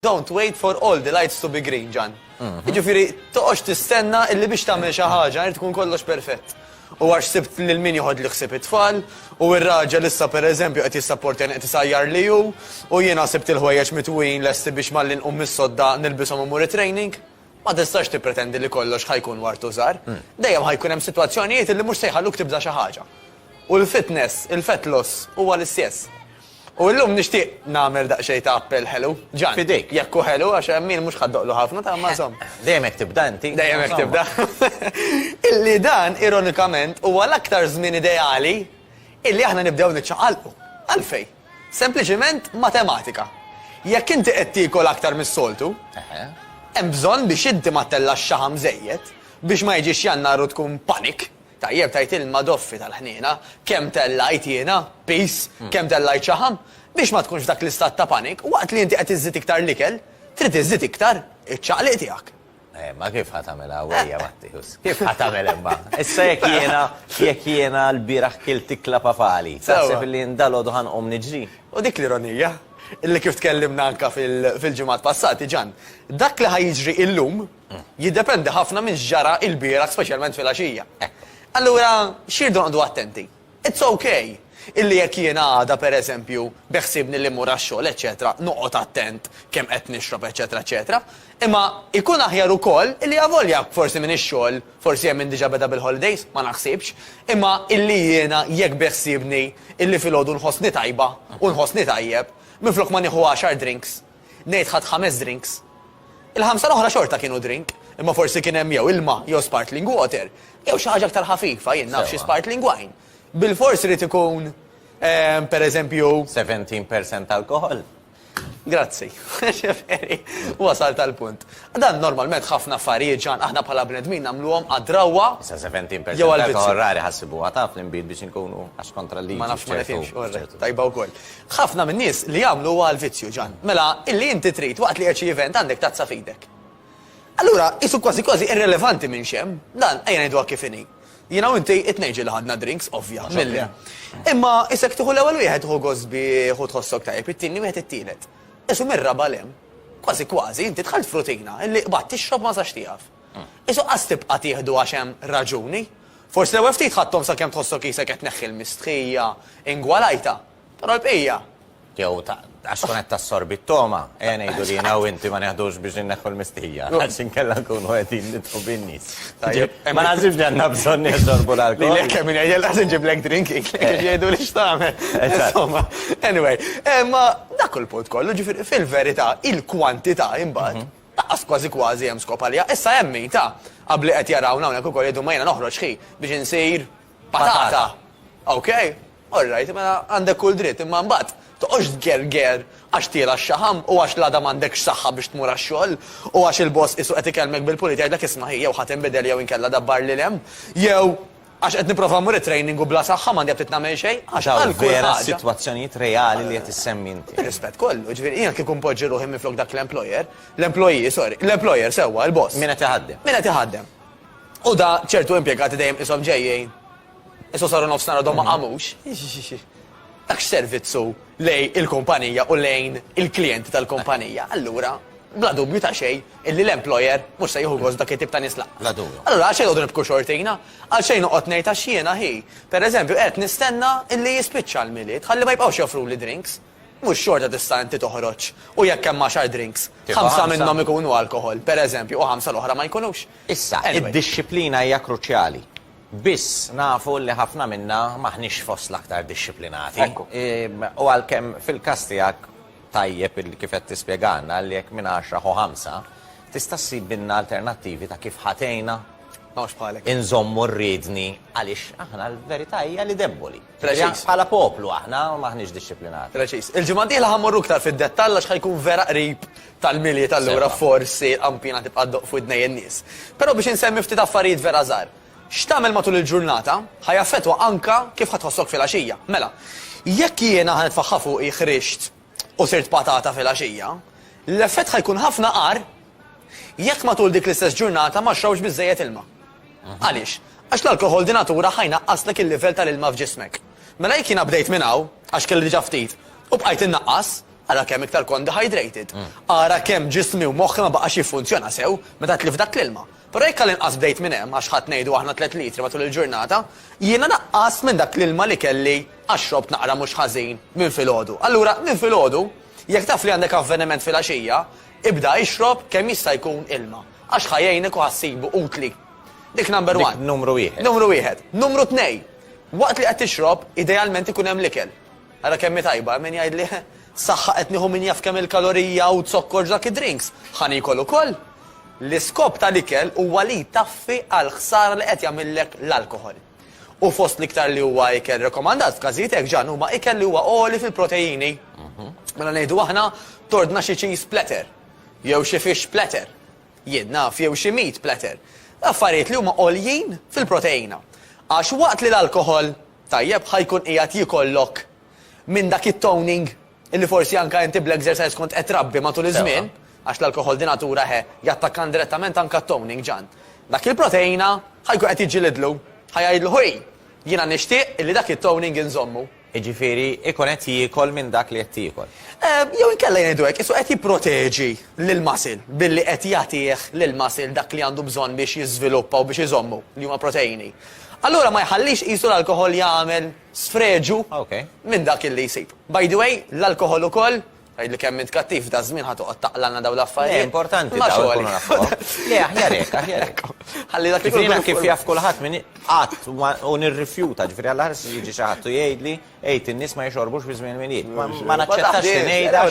Don't wait for all the lights to be green, Jan. Mhm. Ġifiri, toqox tistenna illi biex tagħmel xi ħaġa, jrid tkun kollox perfett. U għax sibt lil min joħod li ħsib it-tfal, u r-raġel issa pereżempju qed jissapporti qed isajjar li hu, u jiena sibt il-ħwejjeġ mitwin lesti biex mallin u mis-sodda nilbishom imur training. Ma tistax tippretendi li kollox ħa jkun ward u żahar. Dejjem ħa jkun hemm sitwazzjonijiet li mhux se jħalluk tibda xi ħaġa. U l-fitness, il-fat loss, huwa l-istess. U illum nixtieq nagħmel daqsxejn ta' appell ħelu. Ġan. F'idejk. Jekk hu ħelu, għax hemm min mhux ħa ddoqlu ħafna, ta' imma insomma. Dejjem hekk tibda inti. Dejjem hekk tibda. Illi dan, ironikament, huwa l-aktar żmien ideali illi aħna nibdew niċċaqalqu. Għalfejn? Sempliċiment matematika. Jekk inti qed tiekol aktar mis-soltu, hemm bżonn biex inti ma ttellax xaħam żejjed biex ma jiġix Jannar u tkun panic, tajjeb tgħid il-madoffi tal-ħniena, kemm tellajt jiena, piż, kemm tellajt xaħam, biex ma tkunx f'dak l-istat ta' panic, waqt li inti qed iżżid iktar l-ikel, trid iżżid iktar iċ-ċaqliq tiegħek. Eh, ma kif ħatamela għawija Mattius? Kif ħatamela imma? Issa jek jena, jek jena l-biraħ kil tikla pafali. Taħseb li ndalo duħan om nġri. U dik l-ironija, illi kif tkellimna anka fil-ġimgħat passati ġan, dak li ħajġri illum mm. jiddependi ħafna minn ġara il-biraħ speċjalment fil-għaxija. Eh. Allura, xirdu għandu attenti. It's ok illi jekk jiena għada, per eżempju, beħsiebni li mmur għax-xogħol, eċċetera, noqgħod attent kemm qed nixrob, eċċetera, eċċetera. Imma jkun aħjar ukoll illi avolja forsi minn ix-xogħol, forsi hemm min diġà beda bil-holidays, ma naħsibx, imma illi jiena jekk beħsiebni illi filgħodu nħossni tajba u nħossni tajjeb, minflok ma nieħu għaxar drinks, Ngħid ħadt ħames drinks. Il-ħamsa l-oħra xorta kienu drink, imma forsi kien hemm jew ilma jew spartling water, jew xi ħaġa aktar ħafifa, jien naf xi spartling wine. Bilfors irid ikun, per eżempju. 17 percent alkoħol? Grazzi. Ġifieri, wasalt għall-punt. Dan normalment ħafna affarijiet, Ġan, aħna bħala bnedmin nagħmluhom għad-drawwa. Issa 17 percent alkoħol rari ħassibuha taf l-inbid biex inkunu għax kontra l-liġi. Ma nafx ma nifhimx, orrek. Tajba wkoll. Ħafna min-nies li jagħmlu huwa l-vizzju, Ġann. Mela, illi inti trid, waqt li qed xi event, għandek tazza f'idek. Allura, qisu kważi kważi irrelevanti minn x'hemm, dan, ejja ngħiduha kif inhi. Jiena u inti it-tnejn ġieli ħadna drinks, ovvja, milli. Imma isek tieħu l-ewwel wieħed hu gost bih u tħossok tajjeb, it-tieni wieħed it-tielet. Qisu mir-raba' 'l hemm. Kważi kważi, inti dħalt f'rutina, illi qbadt tixrob ma sax tieqaf. Qisu qas tibqa' tieħdu għax hemm raġuni. Forsi l-ewwel ftit ħadthom sakemm tħossok qisek qed tneħħi l-mistħija ingwalajta, però l-bqija. Jew għax tkun qed tassorbi t-togħma. Ejja ngħidu li jiena u inti ma neħdux biex inneħħu l-mistħija, għax inkella nkunu qegħdin nidħlu bin-nies. Ma naħsibx li għandna bżonn nixorbu l-alkoħol. Lilek kemm min jgħidilha se nġiblek drink kif jgħidu li x'tagħmel. Insomma, anyway, imma dak hu l-punt kollu, ġifieri fil-verità il-kwantità imbagħad Laqqas kważi kważi hemm skop għaliha. Issa hemm min, ta, ab li qed jarawna hawnhekk ukoll jgħidu ma jiena noħroġ ħi biex insir patata. Okej? All right, mela għandek kull dritt, imma mbagħad toqgħodx tgerger għax tiela x-xaħam u għax l-għada m'għandekx saħħa biex tmur għax-xogħol u għax il-boss qisu qed ikellmek bil-pulit jgħidlek isma' ħi jew ħa tinbidel jew inkella dabbar lil hemm jew Għax qed nipprova mmur it-training u bla saħħa m'għandi aptit nagħmel xejn. Għax hawn vera sitwazzjonijiet reali li qed issemmi inti. Bir-rispett kollu, ġifieri jiena kieku npoġġi ruħi minflok dak l-employer, l-employee, sorry, l-employer sewwa, il-boss. Min qed iħaddem. Min qed iħaddem. U da ċertu impjegati dejjem qishom ġejjin, issa saru nofsinhar għadhom ma qamux. tax servizzu lejn il-kumpanija u lejn il-klijenti tal-kumpanija, allura bla dubju ta' xejn illi l-employer mhux se jieħu gost dak it-tip ta' nies lanqas. Bla dubju. Allura għal xejn noqogħdu nibku xortina? Għal xejn noqgħod ngħid għax jiena hi, pereżempju, qed nistenna illi jispiċċa l-Milied ħalli ma jibqgħux joffruli drinks? Mhux xorta tista' inti toħroġ u jekk hemm għaxar drinks, ħamsa minnhom ikunu alkoħol, pereżempju, u ħamsa l-oħra ma jkunux? Issa, id-dixxiplina hija kruċjali. Biss, nafu li ħafna minna m'aħniex fost l-aktar dixxiplinati. U għalkemm fil-każ tiegħek tajjeb illi kif qed tispjegalna li jekk minn għaxra ħu ħamsa, tista' ssibilna alternattivi ta' kif ħa tgħinna inżommu r-riedni għaliex aħna l-verità hija li debboli. Preċiż. Bħala poplu aħna m'aħniex dixxiplinati. Preċiż. Il-ġimgħa d-dieħla ħa mmorru iktar fid-dettall għax ħa jkun vera qrib tal-Milied allura forsi l-qampina tibqa' ddoqq f'widnej in-nies. Però biex insemmi ftit affarijiet vera żgħar. X'tagħmel matul il-ġurnata ħa jaffettwa anke kif ħa tħossok filgħaxija. Mela, jekk jiena ħa nitfaħħa fuqi ħrixt u sirt patata filgħaxija, l-effett ħa jkun ħafna agħar jekk matul dik l-istess ġurnata ma xrobx biżżejjed ilma. Għaliex? Għax l-alkoħol di natura ħa jnaqqaslek il-livell tal-ilma f'ġismek. Mela jekk jiena bdejt minn hawn, għax kelli diġà ftit, u bqajt innaqqas, ara kemm iktar kont dehydrated. Ara kemm ġismi u moħħi ma baqax jiffunzjona sew meta tlift dak l-ilma. Però jekk għall-inqas bdejt minn hemm, għax ħadt ngħidu aħna tliet litri matul il-ġurnata, jiena naqqast minn dak l-ilma li kelli għax xrobt naqra mhux ħażin minn filgħodu. Allura, minn filgħodu, jekk taf li għandek avveniment filgħaxija, ibda ixrob kemm jista' jkun ilma, għax ħa jgħinek u ħa ssibu utli. Dik number one. Dik numru wieħed. Numru wieħed. Numru tnej, waqt li qed tixrob, idealment ikun hemm l-ikel. Ara kemm hi tajba, hemm min jgħidli, Saħħa qed nieħu min jaf kemm il-kalorija u zokkor f'dak id-drinks! Ħa niekol ukoll! L-iskop tal-ikel huwa li jtaffi għall-ħsara li qed jagħmillek l-alkoħol. U fost l-iktar li huwa ikel rekomandat f'każijiet hekk ġann huma ikel li huwa għoli fil-proteini. Mela ngħidu aħna, tordna xi cheese platter, jew xi fish platter, jien naf, jew xi meat platter. Affarijiet li huma għoljin fil-proteina. Għax waqt li l-alkoħol Tajjeb ħa jkun qiegħed jikollok minn dak it-toning illi forsi anke inti bl-exercise kont qed trabbi matul iż-żmien, għax l-alkoħol di natura he, jattakka indirettament anke t-toning, Ġann. Dak il-proteina ħa jkun qed jiġġilidlu, ħa jgħidlu ħuj, jiena nixtieq illi dak it-toning inżommu. Jiġifieri jkun qed jiekol minn dak li qed tiekol. Jew inkella ngħidu hekk, qisu qed jipproteġi lill-muscle billi qed jagħtih lill-muscle dak li għandu bżonn biex jiżviluppa u biex iżommu, li huma proteini. Allura ma jħallix qisu l-alkoħol jagħmel sfreġu minn dak illi jsib. By the way, l-alkoħol ukoll, tgħidli kemm int kattiv f'daż-żmien ħa toqgħod taqlagħlna dawn l-affarijiet. Le, importanti dawn ikunu nafuhom. Le, aħjar hekk, aħjar hekk. Ħalli dak ikun. Jiena kif jaf kulħadd min qatt u nirrifjuta, ġifieri għall-aħħar se jiġi xi ħadd u jgħidli, għid in-nies ma jixorbux fi żmien il-Milied. Ma naċċettax li ngħidha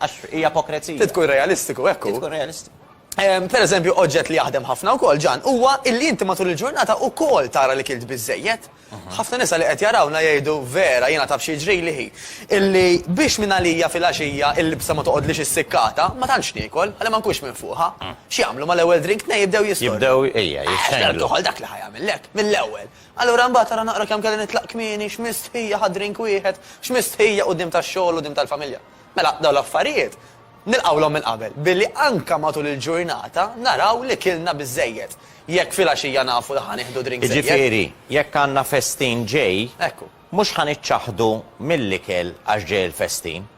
għax hija ipokrezija. Trid tkun realistiku, hekk hu. Trid tkun realistiku. Pereżempju, oġġett li jaħdem ħafna wkoll, Ġan, huwa illi inti matul il-ġurnata wkoll tara li kilt biżżejjed. Ħafna nisa li qed jarawna jgħidu, Vera, jiena taf xi jiġrili hi, illi biex mingħalija filgħaxija l-libsa ma toqgħodlix issikkata, ma tantx niekol, ħalli ma nkunx minfuħa. X'jagħmlu mal-ewwel drink tnejn jibdew jistornu. Jibdew, ejja, jixxenglu. Ħa dak li ħa jagħmillek, mill-ewwel. Allura mbagħad ara naqra kemm kelli nitlaq kmieni, x'mistħija ħa drink wieħed, x'mistħija quddiem tax-xogħol u quddiem tal-familja. Mela, dawn l-affarijiet Nilqgħulhom minn qabel billi anke matul il-ġurnata naraw li kilna biżżejjed. Jekk filgħaxija nafu li ħa nieħdu drink żejjed. Jiġifieri, jekk għandna festin ġej, mhux ħa niċċaħħdu mill-ikel għax ġej il-festin.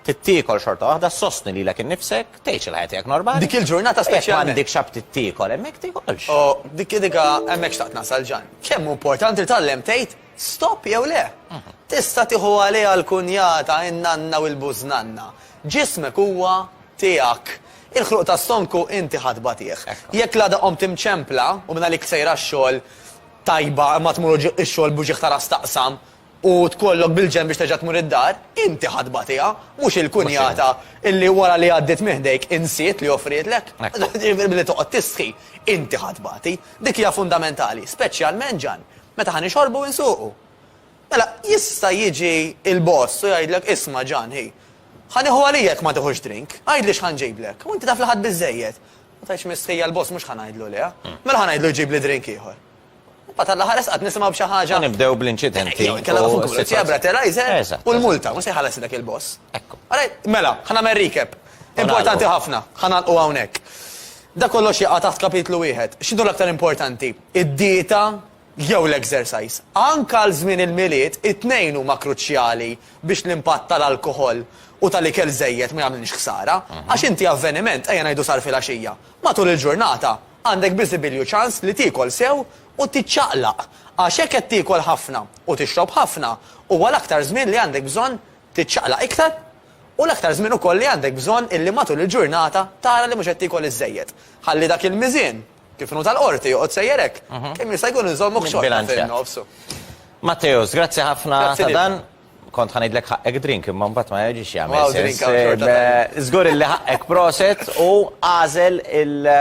Trid tiekol xorta waħda, ssostni lilek innifsek, tgħix il-ħajja tiegħek normali. Dik il-ġurnata speċjalment. Jekk m'għandikx aptit tiekol hemmhekk tiekolx. O, dik, dik, hemm hekk xtaqt nasal, Ġan. Kemm hu importanti li tgħallem tgħid Stop jew le? Tista' tieħu għaliha l-kunjata, in-nanna u l-bużnanna. Ġismek huwa tiegħek. Il-ħluq ta' stonku inti ħa tbatih. Jekk l-għada qomt imċempla u mingħalik sejra x-xogħol tajba imma tmur ix-xogħol b'uġigħ ta' ras taqsam u tkollok bil-ġenb biex terġa' tmur id-dar, inti ħa tbatiha, mhux il-kunjata illi wara li għaddiet minn ħdejk insiet li offrietlek. Billi toqgħod tistħi, inti ħa tbati. Dik hija fundamentali, speċjalment, Ġann, Meta ħa nixorbu u nsuqu. Mela, jista' jiġi l-boss u jgħidlek, isma' Ġan, hi, ħa nieħu għalija jekk ma tiħux drink, għidli x'ħa nġiblek. U inti taf li ħadt biżżejjed. Ma tgħidx mistħija l-boss mhux ħa ngħidlu le. Mela ħa ngħidlu jġibli drink ieħor. Imbagħad għall-aħħar esqat nisimgħu b'xi ħaġa. U nibdew bl-inċidenti. Jew inkella fuq il-pulizija breathalyzer u l-multa, mhux se jħallas dak il-boss. Ekku. Ara, mela, ħa nagħmel recap. Importanti ħafna, ħa nagħlqu hawnhekk. Dak kollox jaqa' taħt kapitlu wieħed. X'inhu l-aktar importanti? id-dieta jew l-ekżersajż. Anke għal żmien il-Milied, it-tnejn huma kruċjali biex l-impatt tal-alkoħol u tal-ikel żejjed ma jagħmlilx ħsara. Għax inti avveniment, ejja ngħidu sar filgħaxija, matul il-ġurnata għandek biżibilju ċans li tiekol sew u tiċċaqlaq. Għax jekk qed tiekol ħafna u tixrob ħafna, huwa l-aktar żmien li għandek bżonn tiċċaqlaq iktar u l-aktar żmien ukoll li għandek bżonn illi matul il-ġurnata tara li mhux qed tiekol iż-żejjed. Ħalli dak il-miżien Kif inhu tal-Qorti, joqgħod sejjer hekk. Kemm jista' jkun inżommuk xorta fin-nofs. Matteus, grazzi ħafna ta' dan. Kont ħa ngħidlek ħaqqek drink imma mbagħad ma jiġix jagħmel sens. Żgur illi ħaqqek proset u għażel il-